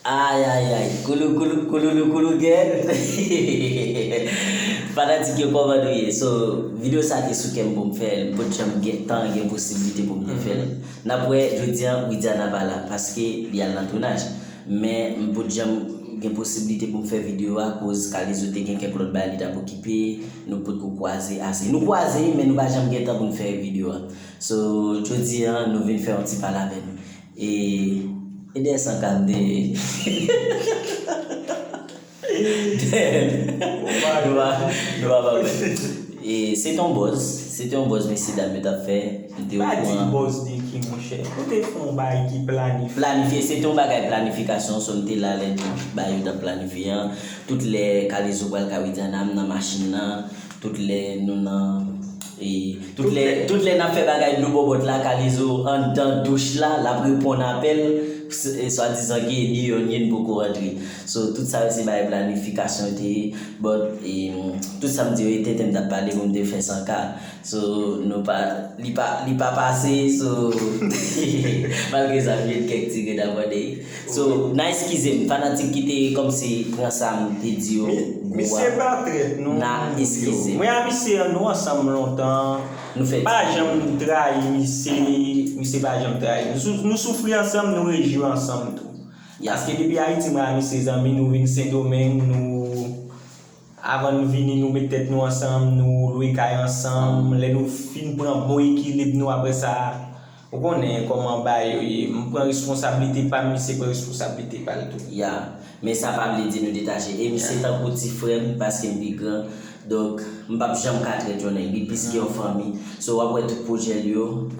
Ayayay kouloukoulou kouloulou koulou gèèt hehehehehehehehe fanatik yo kòman nou ye so video sa te sou kèm poum fèl m pot janm gen tan gen posibilite poum te fèl nap wè jodi an widiana pa la paske li al nan tounaj men m pot janm gen posibilite poum fè video a koz kalezo te gen kèk lòt bagay li tap okipe nou pot ko kwaze ase nou kwaze men nou pa janm gen tan poun fè video a so jodi an nou vin fè yon ti pale avèm. E e dèyè san kal dèyè l se te yon bòz se te yon bòz mesye dam yo tap fè nou te okouran. Pa di bòz de ki monchè nou te fè yon bagay ki planifye. Planifye se te yon bagay planifikasyon sòn te la lè tout bagay yo tap planifye an tout lè kalezo pral kawityana m nan machin nan. Tout lè nou nan Tout lè nap fè bagay dlo bòbòt la kalezo andan douch la lap reponn apèl swadizan ke ni yo ni yn poko rantre so tout sa yo se bagay planifikasyon te ye but tout sam diyo ye tenten mtap pale pou mte fè san ka so nou pa li pa pase so malgre sa mjwenn kèk ti grenn abòne. So na eskizem fanatik ki te kòmsi pran sam te di yo gou a na eskizem. Mwen a misye an nou ansanm lontan m pa janm trayi misye misye pa janm trayi m nou soufri ansanm nou rejwi ansanm tou paske depi ayiti mwen a misye zanmi nou vin sendomeng nou Avan nou vini nou met tèt nou ansanm, nou lwe kay ansanm, lè nou fin pran bon ekilib nou aprè sa, ou konnen kòman bagay yo ye, m pran responsablite pa m, misye pran responsablite pa l tou. Ya, men sa pa vle di nou detache. E misye tankou ti frè m paske m pi gran, donk m p ap janm ka trèt yon nèg, li plis ke yon fanmi. So w ap wè tout pwojè l yo.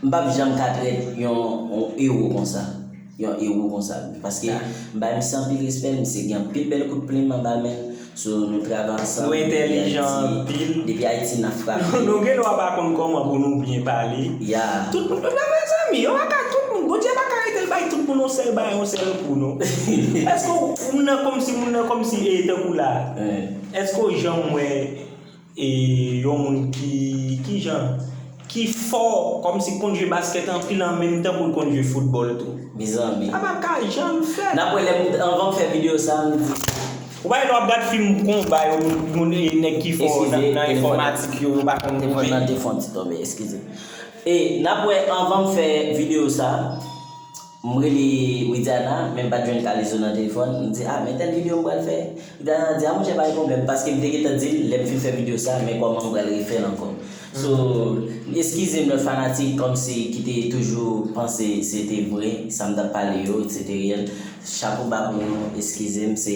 M pap janm ka trèt yon ewo konsa, yon ewo konsa wi. Paske m bay misye anpil respè, misye gen anpil bèl kout plim anba men l. So nou travay ansanm. Nou entèlijan anpil. Depi Ayiti n ap frape. Nou gen dwa pa konn kòman pou nou byen pale. Ya. Tout moun pa vre zanmi. Yo pa ka tout moun. Bondye pa ka rete l bay tout moun yon sèl bagay, yon sèl kou non. Èske w, moun nan kòmsi, moun nan kòmsi e tankou la a. Èske w janm wè. E yon moun ki kijan? Ki fò kòmsi konn jwe baskèt anpil an menm tan pou l konn jwe foutbòl tou? Mezanmi. Sa pa ka janm fèt. Nap wè lè m anvan m fè video sa m di. Ou pa gen dwa ap gad fim konba yo moun e nèg ki fò nan enfòmatik yo yo pa konn koupe. Telefòn nan te fon ti tonbe eskize. E nap wè anvan m fè video sa. M rele Widiana, men m pa t jwenn Kalezo nan telefòn. M di, a, men tèl videyo m pral fè. Widiana di, a monchè pa gen pwoblèm, paske m te gentan di l, lè m fin fè videyo sa, men kòman m pral refè l ankò. So, eskize m lòt fanatik kòmsi ki te toujou panse se te vre, sa m t ap pale yo, se te reyèl. Chapo ba pou nou, eskize m, se,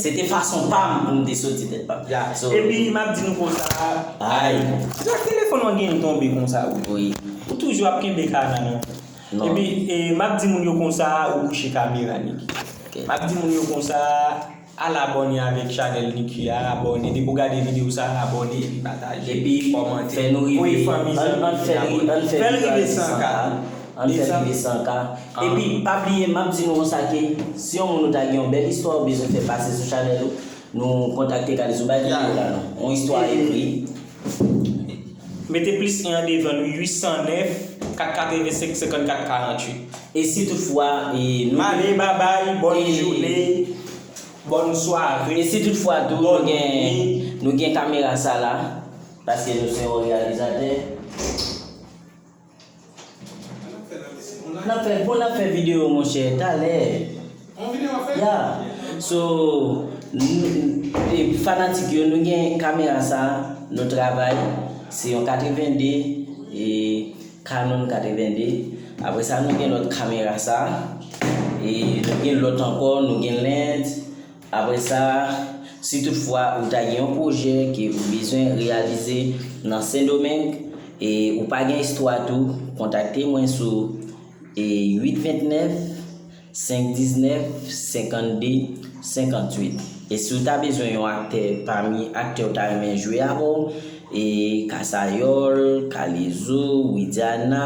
se te fason pa m pou m te soti tèt pa m. Ya. Epi m ap di nou konsa, Ay! Sa telefòn w an genyen tonbe konsa wi? Wi. Ou toujou ap kenbe ka nan menw? Epi map di moun yo konsa ou kouche kamera Niki map di moun yo konsa al abòne avèk chanèl Niki a abòne depi w gade video sa abòne epi pataje epi kòmante voye fanmi zanmi ann fèl rive 100 k ann fèl rive 100 k epi pa bliye map di nou konsa ke si yon moun ou ta gen yon bèl istwa ou bezwen fè pase sou chanèl ou Nou kontakte Kalezo bay video la non. On istwa ekri. Mete plis 1 an devan l wi 809 485 54 48. E si tout fwa nou. Bale babay bòn joune bòn sware. E si tout fwa tou nou gen nou gen kamera sa la. Paske nou se yon reyalizatè. Bon nap fè video monchè talè ya so fanatik yo nou gen kamera sa nou travay se yon 82 e canon 82 apre sa nou gen lòt kamera sa e nou gen lòt ankò nou gen lens. Apre sa, si tout fwa ou ta gen yon pwojè ke ou bezwen reyalize nan Sendomeng e ou pa gen istwa tou, kontakte mwen sou e 829 519 52 58. E si ou ta bezwen yon aktè pami aktè ou ta renmen jwe avè w, e Kasayòl, Kalezo, Widiana,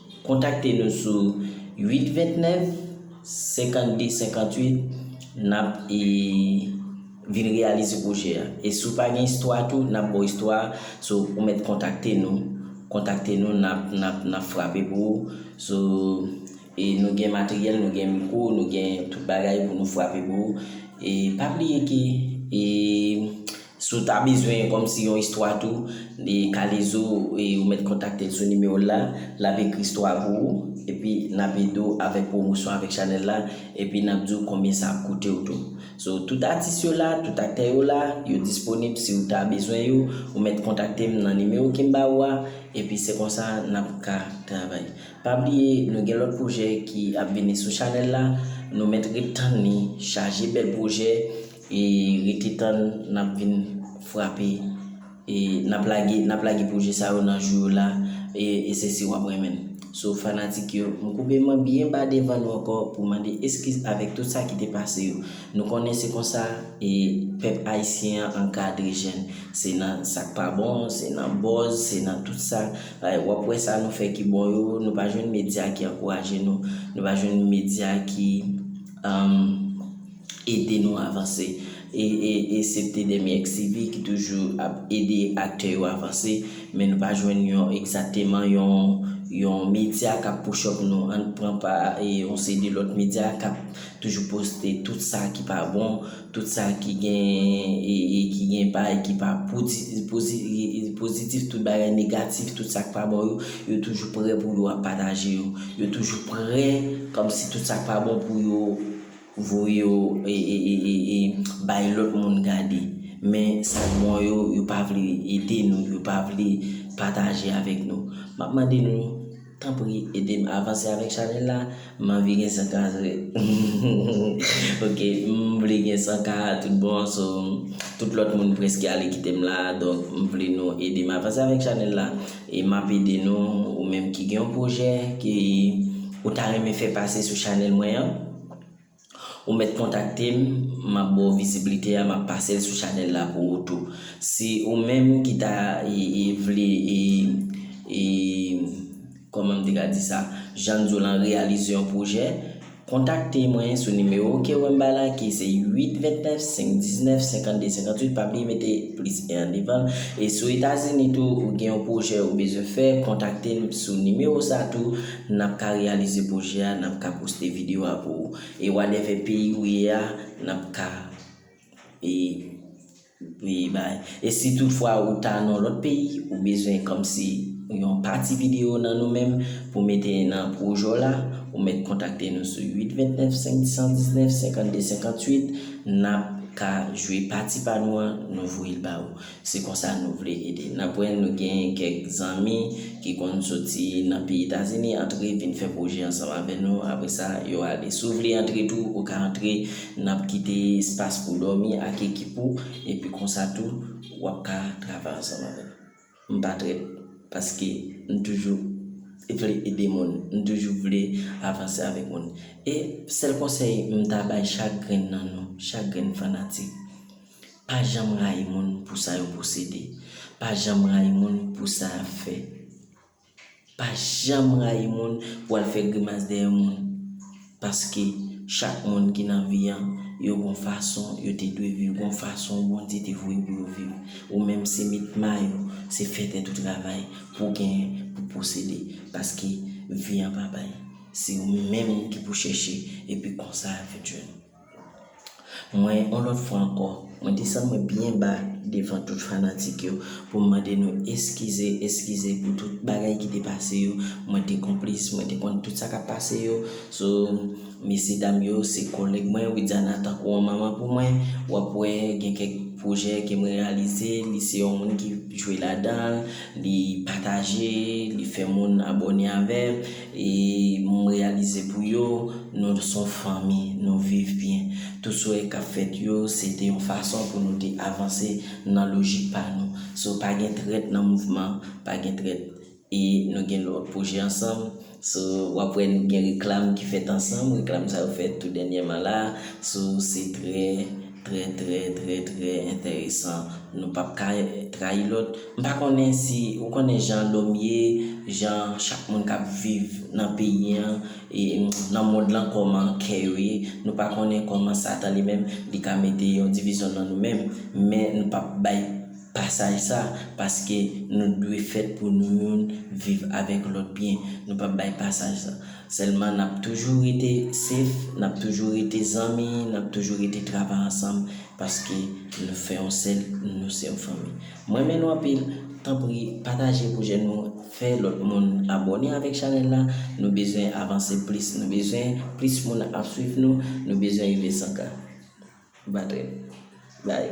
Kontakte nou sou 829 52 58 nap vin reyalize pwojè a. E si w pa gen istwa tou nap ba w istwa a, so ou mèt kontakte nou, kontakte nou nap frape pou ou, so e nou gen materyèl, nou gen mikwo, nou gen tout bagay pou nou frape pou ou. E pa bliye ke e Si w ta bezwen kòmsi yon istwa tou de Kalezo ou mèt kontakte l sou nimewo l la, l ap ekri istwa a pou ou epi n ap ede w avèk pwomosyon avèk chanèl la epi n ap di w konbyen sa ap koute w tou. So tout atis yo la, tout aktè yo la, yo disponib si w ta bezwen yo ou mèt kontakte m nan nimewo ke m ba ou a epi se konsa n ap ka travay. Pa bliye nou gen lòt pwojè ki ap vini sou chanèl la, nou mèt ret tann li chaje bèl pwojè E rete tann nap vin frape e nap lage nap lage pwojè sa yo nan jou yo la e se si wap renmen n. So fanatik yo m koube mwen byen ba devan nou ankò pou mande eskiz avèk tout sa ki te pase yo. Nou konnen se konsa e pèp ayisyen an ankadre jèn. Se nan sak pa bon, se nan bòz, se nan tout sa wap wè sa nou fè ki bon yo nou pa jwenn medya ki ankouraje nou, nou pa jwenn medya ki. ede nou avanse. Esepte dèmi XCV ki toujou ap ede aktè yo avanse, men nou pa jwenn yon egzakteman yon medya kap pouchòp nou. Ann pran pa yon seri de lòt medya kap toujou poste tout sa ki pa bon, tout sa ki gen bay ki pa pozitif, tout bagay negatif, tout sa ki pa bon yo, yo toujou prè pou yo ap pataje yo. Yo toujou prè kòmsi tout sa ki pa bon pou yo. Voye yo bay lòt moun gade. Men sa k bon yo, yo pa vle ede nou, yo pa vle pataje avèk nou. M ap mande nou, tanpri ede m avanse avèk chanèl la. M anvi gen 100 ka vre. Ok, m vle gen 100 ka tout bon. So, tout lòt moun preske ale kite m la. Donk, m vle nou ede m avanse avèk chanèl la. E m ap ede nou, ou menm ki gen yon pwojè ke ou ta renmen fè pase sou chanèl mwen an, ou mèt kontakte m, m ap ba w viziblite a, m ap pase l sou chanèl la pou ou tou. Si ou menm ki ta vle, kòman m te ka di sa, jan n di w lan, reyalize yon pwojè, Kontakte mwen sou nimewo w ke wè m bay la ki se 8 29 5 19 52 58 pa bliye mete plis 1 an devan l e si w etazini tou ou gen yon pwojè ou bezwen fè kontakte m sou nimewo sa tou n ap ka reyalize pwojè a n ap ka poste videyo a pou ou e wadèvè peyi ou ye a n ap ka e. Wi bay. E si tout fwa ou ta nan lòt peyi, ou bezwen kòmsi yon pati videyo nan nou menm pou mete nan pwojè w la, ou mèt kontakte nou sou 8 29 519 52 58, nap ka jwe pati pa nou an, nou voye l ba ou. Se konsa nou vle ede. Nap wè nou gen kèk zanmi ki konn soti nan peyi Etazini antre vin fè pwojè ansanm avè nou, apresa yo ale. Si w vle antre tou, ou ka antre. N ap kite espas pou w dòmi ak ekip ou epi konsa tou w ap ka travay ansanm avè n. M pa trèt paske m toujou vle ede moun, m toujou vle avanse avèk moun. E sèl konsèy m ta bay chak grenn nan nou, chak grenn fanatik, pa janm rayi moun pou sa yo posede, pa janm rayi moun pou sa y ap fè. Pa janm rayi moun pou al fè grimas dèyè moun paske chak moun ki nan vi an yo gon fason yo te dwe viv gon fason Bondye te voye pou yo viv ou menm se met mayo se fè tèt ou travay pou genyen pou posede paske vi an pa bay se ou menm ki pou chèche epi konsa a vin jwenn ou. Mwen yon lòt fwa ankò, mwen desann mwen byen ba devan tout fanatik yo pou m mande nou eskize, eskize pou tout bagay ki te pase yo. Mwen te konplis, mwen te konn tout sa k ap pase yo. So, mesye dam yo se kòlèg mwen, Widiana tankou yon manman pou mwen. W ap wè gen kèk pwojè ke mwen reyalize, li se yon moun ki jwe ladan l, li pataje, li fè moun abòne avè l. E m reyalize pou yo, nou s on fanmi, nou viv byen. Tout souwè k ap fèt yo, se te yon fason pou nou te avanse nan lojik pa nou. So pa gen trèt nan mouvman, pa gen trèt. E nou gen lòt pwojè ansanm. So w ap wè nou gen reklam ki fèt ansanm, reklam sa yo fèt tou dènyèman la. So se trè. Trè trè trè trè entèresan nou pap ka trayi lòt m pa konnen si ou konnen jan lòm ye jan chak moun kap viv nan peyi an e nan mond lan kòman kè yo ye nou pa konnen kòman satan li menm li ka mete yon divizyon nan nou menm men nou pap bay pasaj sa paske nou dwe fèt pou nou youn viv avèk lòt byen nou pap bay pasaj sa. Sèlman nap toujou rete safe, nap toujou rete zanmi, nap toujou rete travay ansanm paske nou fè yon sèl, nou se yon fanmi. M renmen nou anpil, tanpri pataje pwojè nou, fè lòt moun abòne avèk chanèl la, nou bezwen avanse plis, nou bezwen plis moun ap swiv nou, nou bezwen rive 100 k. Batrè. Bye.